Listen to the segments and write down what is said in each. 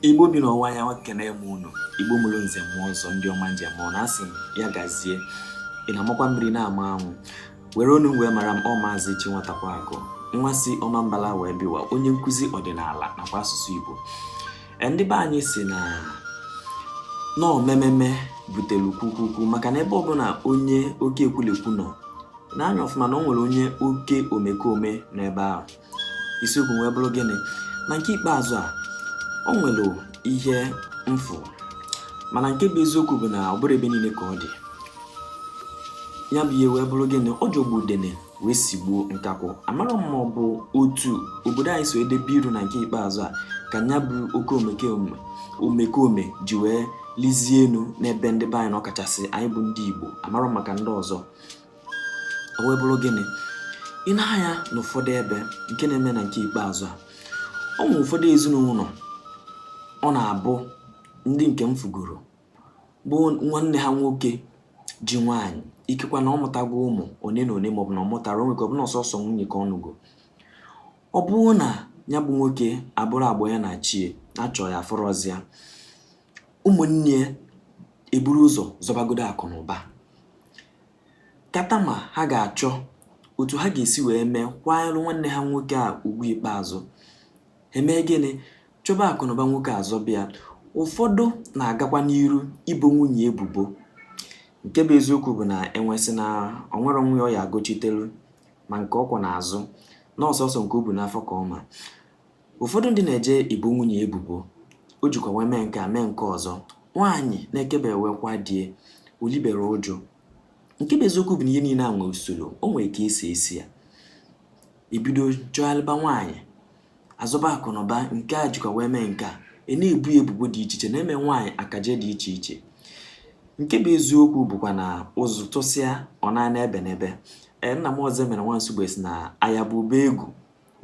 Igbo bi n'ọwụwa anyanwụ ekene m unu Igbo mụrụ nze mụọ ọzọ ndị ọma njem ọ na-asị m ya gazie ị na-amakwa mmiri na-ama anwụ were onu m wee mara m ọ maazị chi nwatakwa akụ nwa si Ọmambala wee bịa ụwa onye nkụzi ọdịnala nakwa asụsụ Igbo e, ndị be anyị sị na ọ mememe butere kwukwukwu maka na ebe ọbụla onye oke ekwulekwu nọ nee anya ọfụma na o nwere onye oke omekome n'ebe ahụ isiokwu m wee bụrụ gịnị na nke ikpeazụ a o nwere ihe m fụ mana nke bụ eziokwu bụ na ọ bụrụ ebe niile ka ọ dị ya bụ ihe wee bụrụ gịnị ọ jọgbu udene wee sigbuo nkakwụ amarọ m ma ọ bụ otu obodo anyị so edebe iru na nke ikpeazụ a ka ya bụ oke omekome omekome ji wee lizie elu n'ebe ndị be anyị nọ ọkachasị anyị bụ ndị Igbo amarọ m maka ndị ọzọ o wee bụrụ gịnị i nee anya n'ụfọdụ ebe nke na-eme na nke ikpeazụ a ọ nwere ụfọdụ ezinụlọ ọ na-abụ ndị nke m fụgoro bụ nwanne ha nwoke ji nwaanyị ikekwa na ọ mụtago ụmụ one na one maọbụ na ọ mụtarọ o nwe ike ọ bụ na ọ sọsọ nwunye ka ọ nụgo ọ bụrụ na ya bụ nwoke abụrụ agba ya na chie achọọ ya afụrọzị ya ụmụnne ya eburu ụzọ zọbagodo akụ na ụba kata ma ha ga-achọ otu ha ga-esi wee mee kwanyelụ nwanne ha nwoke a ugwu ikpeazụ emee gịnị chọba akụ na ụba nwoke a zọba ya ụfọdụ na-agakwa n'iru ibo nwunye ebubo nke bụ eziokwu bụ na enwe sị na o nwerọ nwa ya ọ ya-agọchitelu ma nke ọ kwọ n'azụ na ọ sọsọ nke o bu n'afọ ka ọ ma Ụfọdụ ndị na-eje ibo nwunye ebubo, o jikwa wee mee nke a mee nke ọzọ, nwaanyị na-ekebewekwa di e olibere uju. Nke bụ eziokwu bụ na ihe niile a nwee usoro, o nwere ka esi esi ya. Ebido chụgharịba nwaanyị, azọba akụnụba, nke a jikwa wee mee nke a, a na-ebo ya ebubo dị iche iche, na-eme nwaanyị akaje dị iche iche. Nke bụ eziokwu bụkwa na ụzụ tụsịa ọ na-ana ebe n'ebe. Ee, nna m Ọzọemena nwa Nsugbe sị na ya bụ ube egwu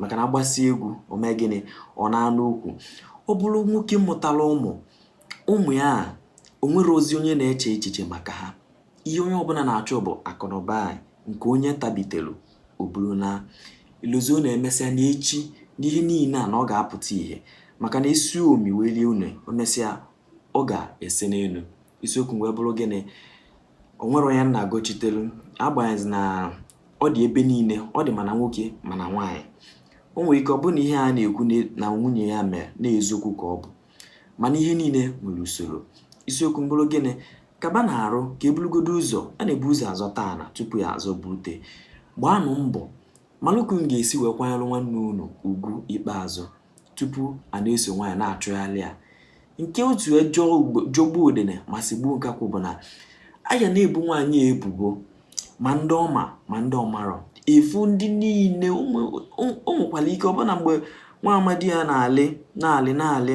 maka na agbasịa egwu o mee gịnị ọ naa n'ukwu ọ bụrụ nwoke mụtara ụmụ ụmụ ya o nwerọzi onye na-eche echiche maka ha ihe onye ọbụla na-achọ bụ akụnụba nke onye tabitelu o buru na-elozọ na emesịa na echi na ihe niile a na ọ ga-apụta ihe maka na esi omi wee lie une o mesịa ọ ga-ese n'elu isiokwu m wee bụrụ gịnị o nwerọ onye m na-agọchitelu agbanyeghị na ọ dị ebe niile ọ dị ma na nwoke ma na nwaanyị o nwere ike ọ bụrụ na ihe a na-ekwu na nwunye ya mere na eziokwu ka ọ bụ mana ihe niile nwere usoro isiokwu m bụrụ gịnị kaba na arụ ka eburugodo ụzọ a na-ebu ụzọ azọta ana tupu ya azọba ute gbaanụ mbọ malụ ka unu ga-esi wee kwanyere nwanne unu ugwu ikpeazụ tupu a na-eso nwaanyị na-achụgharị ya nke otu o ji jọgbuo udene ma sigbuo nkakwụ bụ na a ya na-ebu nwaanyị ebubo ma ndị ọ ma ma ndị ọ marọ efu ndị niile o nwekwara ike ọbụna mgbe nwa amadị a na-alị na-alị na-alị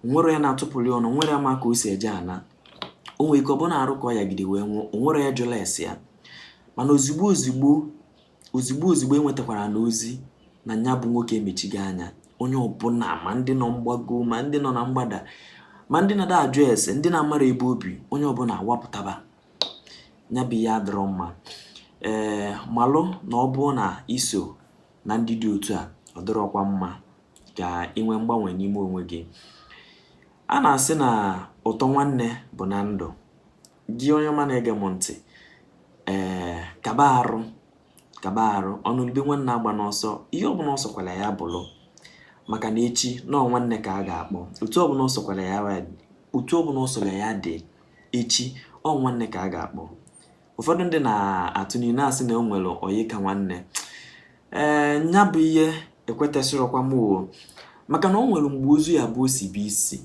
o nwerọ onye na-atụpụrụ ya ọnụ o nwerọ onye ma ka o si eje ana o nwere ike ọbụna arụ ka ọ yagide wee nwụọ o nwerọ onye jụla ese ya mana ozigbo ozigbo ozigbo ozigbo e nwetakwara na ozi na nya bụ nwoke emechigo anya onye ọbụla ma ndị nọ mgbago ma ndị nọ na mgbada ma ndị na-ada ajụ ese ndị na-amarọ ebe o bi onye ọbụla awapụtaba nya bụ ihe adọrọ mma ee eh, malụ na ọ bụrụ na i so na ndị dị otu a ọ dịrọkwa mma ka ị nwee mgbanwe n'ime onwe gị a na-asị na ụtọ nwanne bụ na ndụ Gị onye ọma na-ege m ntị, ee, kaba arụ kaba arụ ọnụlụ ube nwanne agbana ọsọ ihe ọbụla ọ sọkwara ya bụrụ maka na echi na ọ nwanne ka a ga-akpọ otu ọbụla ọ sọkwara ya otu ọbụla ọ sọrọ ya dị echi ọ nwanne ka a ga-akpọ ụfọdụ ndị na-atụ n'inu na-asị na o nwere ọyị ka nwanne ee nya bụ ihe ekwetesịrọkwa m o maka na ọ nwere mgbe ozu ya-abụ o sibe isi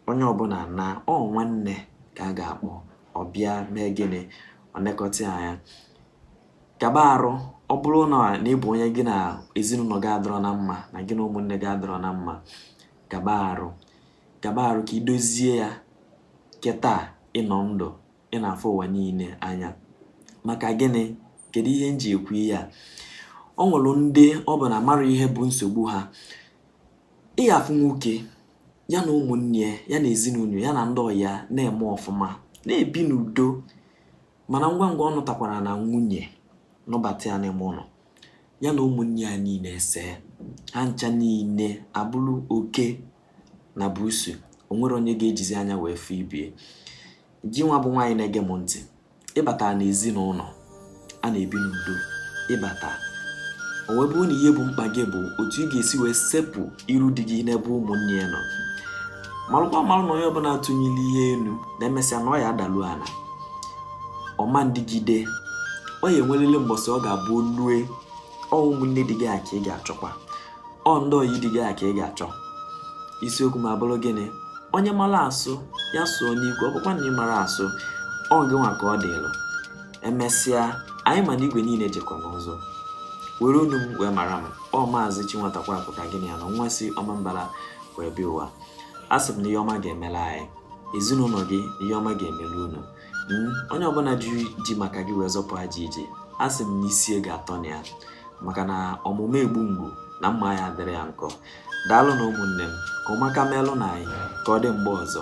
onye ọbụla na ọ nwanne ka a ga-akpọ ọ bịa mee gịnị ọ nekọta ya anya kaba arụ ọ bụrụ na na ị bụ onye gị na ezinụlọ gị adọrọ na mma na gị na ụmụnne gị adọrọ na mma kaba arụ kaba arụ ka i dozie ya kịta ị nọ ndụ ị na-afụ ụwa niile anya maka gịnị kedu ihe m ji ekwu ihe a o nwelu ndị ọ bụ na amarọ ihe bụ nsogbu ha ị ga-afụ nwoke ya na ụmụnne ya ya na ezinụlọ ya na ndị ọyị ya na-eme ọfụma na-ebi n'udo mana ngwa ngwa ọ nụtakwara na nwunye nụbata ya n'ime ụlọ ya na ụmụnne ya niile esee ha ncha niile abụrụ oke na buusu o nwerọ onye ga-ejizi anya wee fụ ibe ya gị nwa bụ nwaanyị na-ege m ntị ị bata na ezinụlọ a na-ebi n'udo ị bata o wee bụrụ na ihe bụ mkpa gị bụ otu ị ga-esi wee sepụ iru di gị n'ebe ụmụnne ya nọ malụkwa malụ na nya bụ na a tụnie ihe elu na emesịa na ọ ya adalu ala ọ ma na-adịgide ọ ya enwelele mbọsị ọ ga-abụ o lue ọ ụmụnne di gị a ka ị ga-achọkwa ọ ndị ọyị di gị a ka ị ga-achọ isiokwu m abụrụ gịnị onye mara asụ ya sụọ n'ikwe ọ bụkwa na ị marọ asụ ọ gị nwa ka ọ dịlụ emesịa anyị ma na igwe niile jekọ n'ụzụ were onu m wee mara m ọ maazị chinwatakwa apụta gịnị ya na nwa si Ọmambala wee bịa ụwa a sị m na ihe ọma ga-emela anyị ezinụlọ gị ihe ọma ga-emelu unu hmm, onye ọbụna jiri ji maka gị wee zọpụ ajọ ije a sị m na isi ya ga-atọ na ya maka na ọmụmụ egbu mgbu na mma ya adịrị ya nkọ daalụ nụ ụmụnne m ka ụmụaka melụ na anyị ka ọ dị mgbe ọzọ